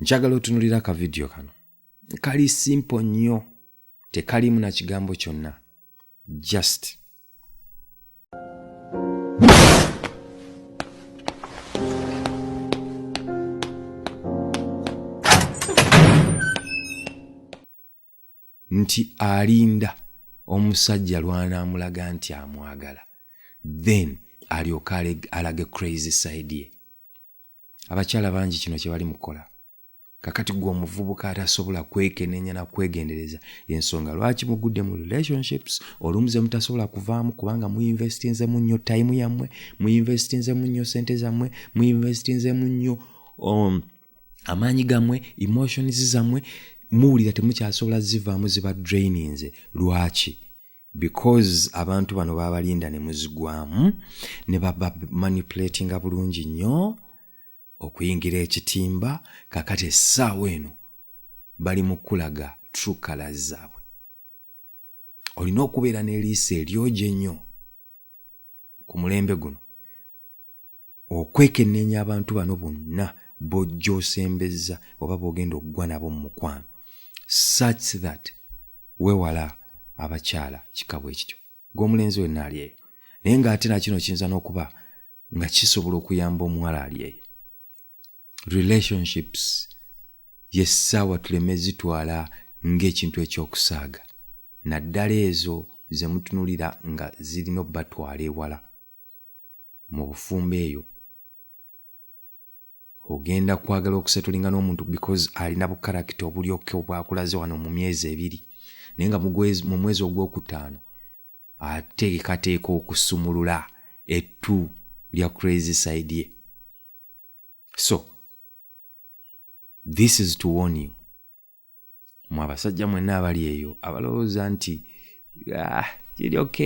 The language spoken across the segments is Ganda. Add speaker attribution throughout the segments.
Speaker 1: njagala otunulira akavidiyo kano kali simpo nnyo tekalimu na kigambo kyonna just nti alinda omusajja lwanaamulaga nti amwagala then alyoka alage crazy side ye abakyala bangi kino kye bali mukukola kakati gwe omuvubuka atasobola kwekenenya na kwegendereza yensonga lwaki mugudde mu relationships olumuze mutasobola kuvaamu kubanga muinvestinze mu nnyo time yammwe muinvestinze mu nnyo sente zammwe muinvestinze mu nnyo um, amaanyi gammwe emotions zammwe muwulira temukyasobola zivaamu ziba draininze lwaki because abantu bano babalinda ne muzigwamu ne babamanipulatinga bulungi nnyo okuyingira ekitimba kakati essaawa eno bali mu kulaga true colors zaabwe olina okubeera n'eliisa eryogi ennyo ku mulembe guno okwekenneenya abantu bano bonna bojjoosembezza oba bogenda okugwa nabo mu mukwano such that wewala abakyala kika bwe kityo gwomulenzi wenna ali eyo naye ng'ate nakino kiyinza n'okuba nga kisobola okuyamba omuwala ali eyo relationships yessaawa tuleme zitwala ng'ekintu eky'okusaaga naddala ezo ze mutunulira nga zirina obatwala ewala mu bufumbo eyo ogenda kwagala okusetulinga n'omuntu because alina bukarakita obulyoke obwakulaze wano mu myezi ebiri naye nga mu mwezi ogwokutaano ateekateeka okusumulula ettu lya crazy side ye so this is to warn you mwe abasajja mwenna abali eyo abalowooza nti ah, kiri ok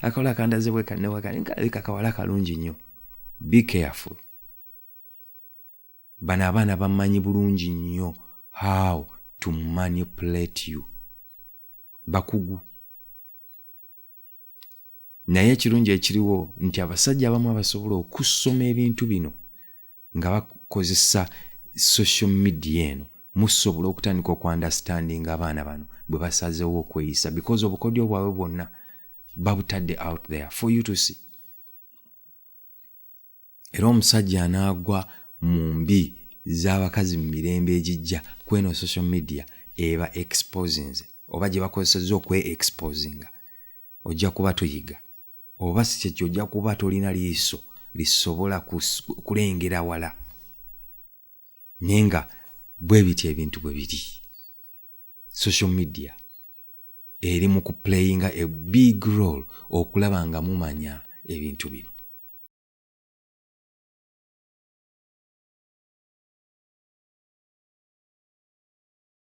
Speaker 1: akawala kandaze bwekanewakakawala kalungi nnyo be careful bano abaana bamanyi bulungi nnyo how to manipulate you bakugu naye ekirungi ekiriwo nti abasajja abamu abasobola okusoma ebintu bino nga bakozesa social media eno musobola okutandika okuandastandinga abaana bano bwe basazeewo okweyisa because obukodyo bwabwe bwonna babutadde out there for you to see era omusajja anaagwa mu mbi z'abakazi mu mirembe egijja ku eno social media eba exposinze oba gye bakozesezza okwe exposinga ojja kuba tuyiga oba si kyekyo ojja kuba tolina liiso lisobola kulengera wala naye nga bwe bityo ebintu bwe biri social media eri mu kuplayinga a big role okulaba nga mumanya ebintu bino